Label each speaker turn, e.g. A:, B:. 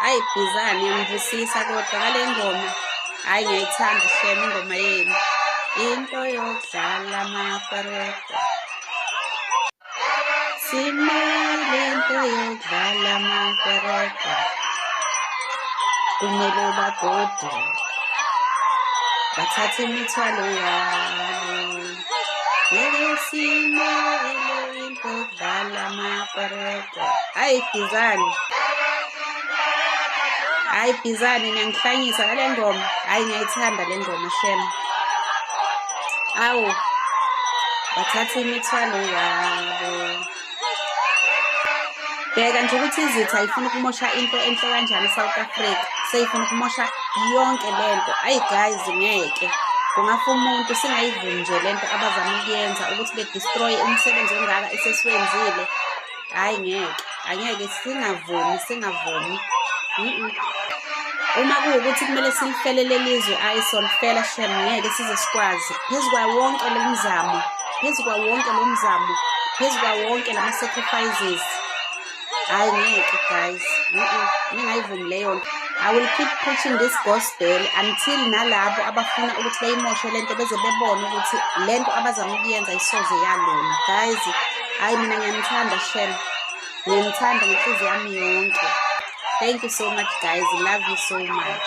A: hayi bhizane ngibusisa kodwa ngale ngoma hayi ngiyayithanda shem ingoma yenu into yokudlala amakareta simele into yokudlala amakareta kumele bagode bathathe imithwalo yabo ngeke simele Udlala amapareko. Hayi bhizane. Hayi bhizane niyangihlanyisa ngale ngoma. Hayi ngiyayithanda le ngoma shem. Awu. Bathatha imithwalo yabo. Bheka nje ukuthi izitha ifuna ukumosha into enhle kanjani eSouth Africa. Seyifuna ukumosha yonke lento. Hayi guys ngeke. Kungafa umuntu singayivumi nje lento abazama ukuyenza ukuthi destroy umsebenzi ongaka esesiwenzile hhayi ngeke angeke singavumi singavumi uma kuwukuthi kumele silifele lelizwe ayi solifela shem ngeke size sikwazi phezu kwayo wonke lo mzamo phezu kwawo wonke lo mzamo phezu kwawo wonke lama-sacrifices hayi ngeke guys ningayivumi leyo nto i will keep preaching this gospel until nalabo abafuna ukuthi bayimoshe le nto beze bebone ukuthi le nto abazama ukuyenza isoze yalona guys hayi mina ngiyamthanda shem ngiyamthanda ngenhliziyo yami yonke thank you so much guys love you so much